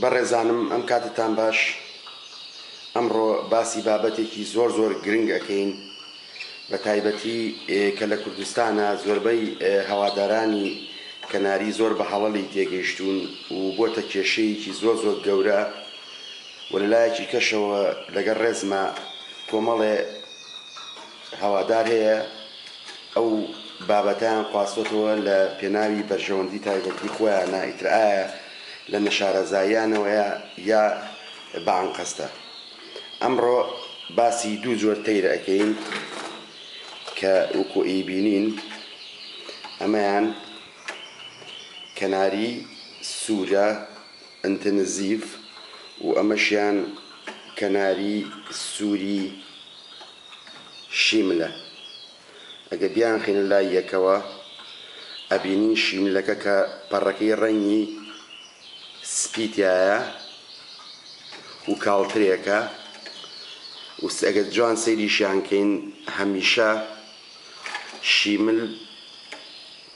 بەڕێزانم ئەم کاتتان باش ئەمڕۆ باسی بابەتێکی زۆر زۆر گرنگ ئەکەین بەتایبەتی کە لە کوردستانە زۆربەی هەوادارانی کەناری زۆر بە هەڵەلی تێگەیشتوون و بۆتە کێشەیەکی زۆر زۆر گەورە و لەلایەکی کەشەوە لەگەر ڕێزما کۆمەڵێ هەوادار هەیە ئەو بابەتیان خواستۆتەوە لە پێناوی بەرژەوەندی تایبەتی خۆیانە ئیترئایە لە نەشارەزاییانەوەیە یا بە ئەنقەستە؟ ئەمڕۆ باسی دوو جۆر تەیر ئەکەین کە وەکو ئەیبینین ئەمەیان کەناری سوورە ئەنتنزیڤ و ئەمەشیان کەناری سووری شیملە. ئەگەر بیانخەینە لای یەکەوە ئەبینین شینلەکە کە پەڕەکەی ڕەنگی سپی تایە و کاڵترێکە و ئەگەر جوان سەیریشیان کەین هەمیشە شیمل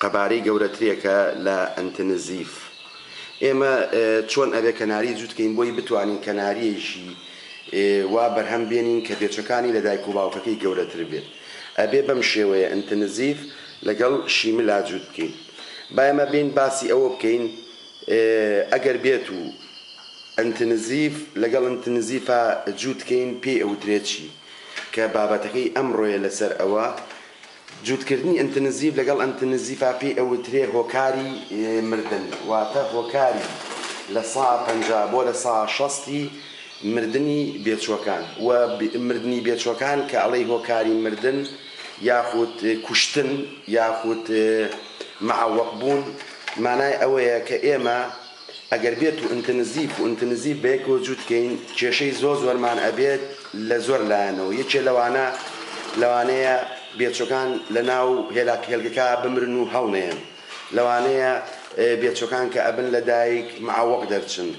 قەبارەی گەورەترێکە لە ئەنتنزیف. ئێمە چۆن ئەبێ کەناری جووت کەین بۆی بتوانین کەناریەیشی وا بەرهەم بێنین کە بێچەکانی لە دایک و باوکەکەی گەورەتر بێت ئەبێ بەم شێوەیە ئەنتنزیف لەگەڵ شیملا جووت بکەین. با ئێمە بێین باسی ئەوە بکەین ئەگەر بێت و ئەنتنزیف لەگەڵ ئەنتنزیفا جووت کەین پێی ئەوترێت چی کە بابەتەکەی ئەمڕۆیە لەسەر ئەوە جووتکردنی ئینتنزیڤ لەگەڵ ئینتنزیڤا پێی ئەوترێ هۆکاری مردن، واتە هۆکاری لە سا پەنجا بۆ لە سا شەستی مردنی بێچووەکان و مردنی بێچووەکان کە ئەڵێی هۆکاری مردن یاخود کوشتن یاخود معەوەق بوون مانای ئەوەیە کە ئێمە ئەگەر بێتو ئنتنزیف و ئنتنزیف بەیەکەوە جووت کەین کێشەی زۆر زۆرمان ئەبێت لە زۆر لایەنەوە یەکێ لەوانە لەوانەیە بێچۆکان لە ناو هێلاک هێلکەکە بمرن و هەڵنێن لەوانەیە بێچۆکان کە ئەبن لە دایک معوەق دەرچن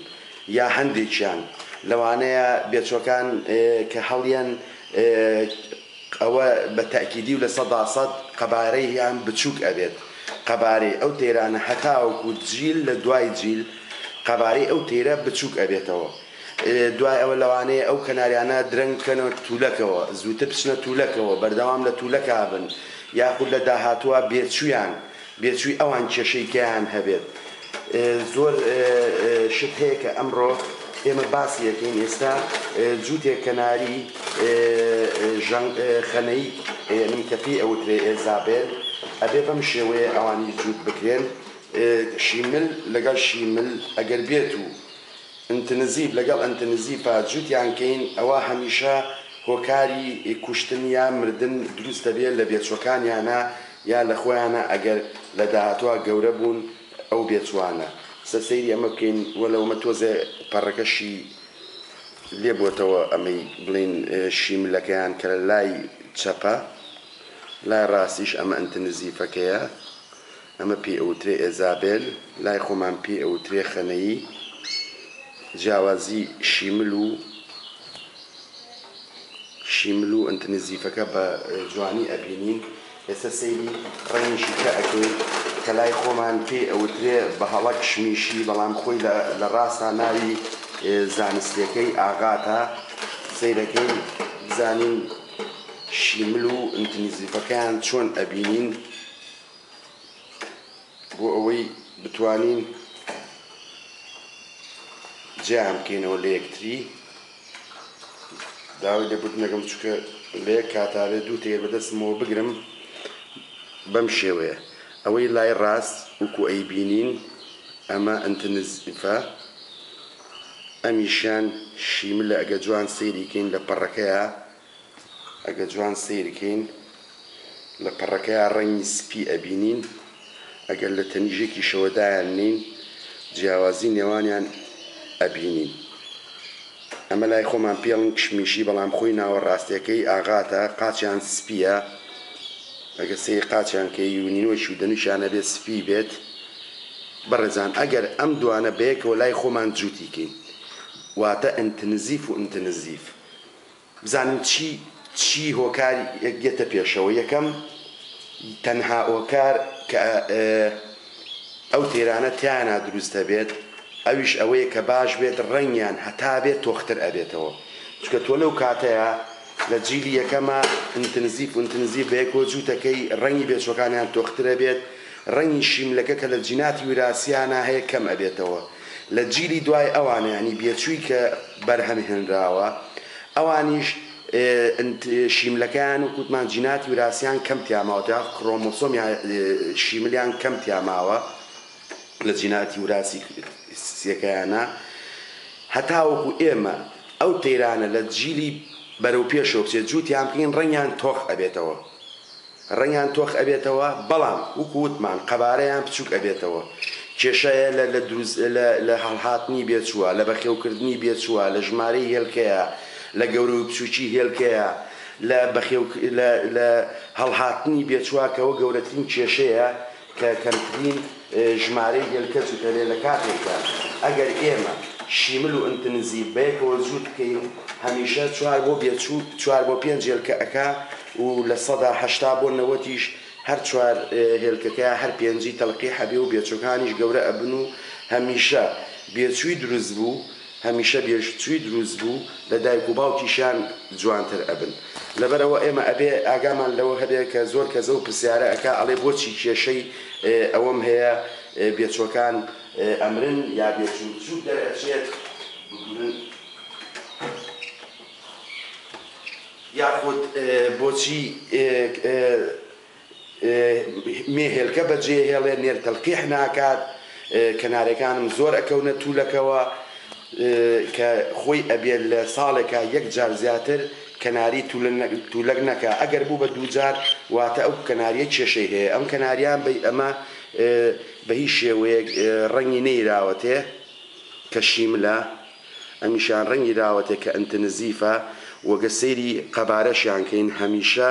یا هەندێکیان لەوانەیە بێچۆکان کە هەڵیەن ئەوە بە تەئکیدی و لە سەدا سەد قەبارەیان بچووک ئەبێت قەبارەی ئەو تەیرانە هەتاوەکو جیل لە دوای جیل قەبارەی ئەو تەیرە بچووک ئەبێتەوە دوای ئەوە لەوانەیە ئەو کەناریانە درەنگ بکەنە تولەکەوە زووتر بچنە تولەکەوە بەردەوام لە تولەکا بن یاخود لە داهاتووا بێچوویان بێچووی ئەوان کێشەی گیان هەبێت زۆر شت هەیە کە ئەمڕۆ ئێمە باسی ئەکەین ئێستا جووتێک کەناری ژەنگ خەنەی یەنی کە پێی ئەوترێ ئێزابێل ئەبێ بەم شێوەیە ئەوانی جووت بکرێن شیمل لەگەڵ شیمل ئەگەر بێت و ئنتنزیڤ لەگەڵ ئنتنزیڤ جوتیان کەین ئەوا هەمیشە هۆکاری کوشتن یا مردن دروست دەبێت لە بێچوەکانیانا یا لە خۆیانا ئەگەر لە داهاتوا گەورە بوون ئەو بێچوانە سە سەیری ئەمە بکەین وەلەو ئەمە تۆزێ پەڕەکەشی لێ بۆتەوە ئەمەی بڵێین شیملەکەیان کە لە لای چەپە لای ڕاستیش ئەمە ئنتنزیفەکەیە ئەمە پێی ئەوترێ ئێزابێل، لای خۆمان پێی ئەوترێ خەنەیی، جیاوازی شیمل و شیمل و ئنت نزیفەکە بە جوانی ئەبینین، ئێستا سەیری ڕەنگیشی کە ئەکەین کە لای خۆمان پێی ئەوترێ بەهەڵە کشمیشی بەڵام خۆی لە ڕاستا ناوی زانستیەکەی ئاغاتە، سەیرەکەین بزانین شیمل و ئنت نزیفەکەیان چۆن ئەبینین. بۆ ئەوەی بتوانین جیان بکەینەوە لە یەکتری داوای لێبوردنەکەم چکە لە یەک کاتاێ دوو تێر بەدەستمەوە بگرم بەم شێوەیە ئەوەی لای ڕاست وکو ئەی بینین ئەمە ئەتنزفە ئەمیشان شیملە ئەگە جوان سەیریکەین لە پەڕەکەیە ئەگە جوان سەیر کەین لە پەڕەکەیا ڕەنگی سپی ئەبینین ئەگەر لە تەنیژەکیشەوە دایاننێین جیاوازی نێوانیان ئەبینین ئەمە لای خۆمان پێڵن کشمیشی بەڵام خۆی ناوە ڕاستەکەی ئاغاتە قاچیان سپیە ئەگە سەیر قاچیان کەی و نینۆکی و دەنوکیان ئەبێت سپی بێت بەڕێزان ئەگەر ئەم دوانە بەیەکەوە لای خۆمان جوتی کەین واتە ئنتنزیف و ئنتنزیف بزانم چی چی هۆکار یەکدێتە پێشەوە یەکەم تەنها هۆکار کە ئەو تێرانە تیانا دروست دەبێت ئەویش ئەوەیە کە باش بێت ڕەنگیان هەتا بێت تۆختر ئەبێتەوە چکە تۆ لەو کاتەیە لە جیلی یەکەمە ئینتنزیف ئینتنزیف بەیەکۆ جووتەکەی ڕەنگی بێچوەکانیان تۆخترە بێت ڕەنگی شیملەکە کە لە جیناتی وراثیانە هەیە کەم ئەبێتەوە لە جیلی دوای ئەوانە یانی بێچووی کە بەرهەم هێنراوە ئەوانیش شیملەکەیان و کوتمان جیناتی وراسیان کەم تیاماوە تا کرۆمۆسۆم یا شیملیان کەم تیاماوە لە جیناتی وراسی سیەکەیانە هەتاوەکو ئێمە ئەو تەیرانە لە جیلی بەرەو پێشەوە بچێت جووتیان بکەین ڕەنگیان تۆخ ئەبێتەوە. ڕەنگیان تۆخ ئەبێتەوە بەڵام وەکو وتمان قەبارەیان بچوک ئەبێتەوە کێشە یە لە لە دروست لە لە هەڵهاتنی بێچوە لە بەخێو کردنی بێچوە لە ژمارەی هێلکەیە لە گەورەی بچوکی هێلکەیە لە بەخێو لە لە هەڵهاتنی بێچوە کەوە گەورەترین کێشەیە کە کەمترین ژمارەی گێل کەچ و تەلێ لە کاتێکدا ئەگەر ئێمە شیمل و ئنتنزیڤ بەیەکەوە جووت بکەین هەمیشە چوار بۆ بێچوو چوار بۆ پێنج هێلکە ئەکا و لە سەدا هەشتا بۆ نەوەتیش هەر چوار هێلکەکە هەر پێنجی تەلقیح ئەبێ و بێچووەکانیش گەورە ئەبن و هەمیشە بێچووی دروست بوو هەمیشە بێژووی دروست بوو لە دایک و باوکیشیان جوانتر ئەبن لەبەرئەوە ئێمە ئەبێ ئاگامان لەوە هەبێ کە زۆر کەس ئەو پرسیارە ئەکا ئەڵێ بۆچی کێشەی ئەوەم هەیە بێچوەکان ئەمرن یا بێچوو بچوک دەرئەچێت بمرن یاخود بۆچی مێ هێلکە بەجێهێڵێ نێر تەلقیح ناکات کەنارەکانم زۆر ئەکەونە توولەکەوە کە خۆی ئەبێت لە ساڵێکا یەک جار زیاتر کەناری توولەک نەکا ئەگەر بوو بە دووجار واتە ئەو کەناریە کێشەی هەیە ئەم کەناریان بەی ئەمە بە هیچ شێوەیەک ڕەنگی نەیراوەتێ کە شیملە ئەمیشان ڕەنگی راوەتێ کە ئنتنزیفە وەگەر سەیری قەبارەشیان کەین هەمیشە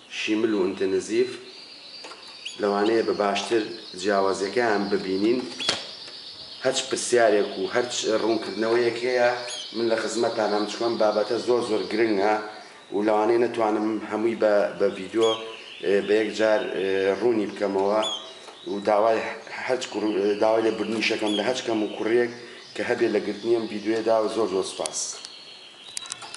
شیمل و ئنتنزیڤ لەوانەیە بە باشتر جیاوازیەکەیان ببینین هەچ پرسیارێک و هەرچ ڕوونکردنەوەیەک هەیە من لە خزمەتتانام چکو ئەم بابەتە زۆر زۆر گرنگە و لەوانەیە نەتوانم هەمووی بە بە ڤیدیۆ بە یەک جار ڕوونی بکەمەوە و داوای هەچ کوڕ داوای لێ بردنیشەکەم لە هەچ کەم و کوڕیەک کە هەبێ لە گرتنی ئەم ڤیدیۆیەدا و زۆر زۆر سوپاس.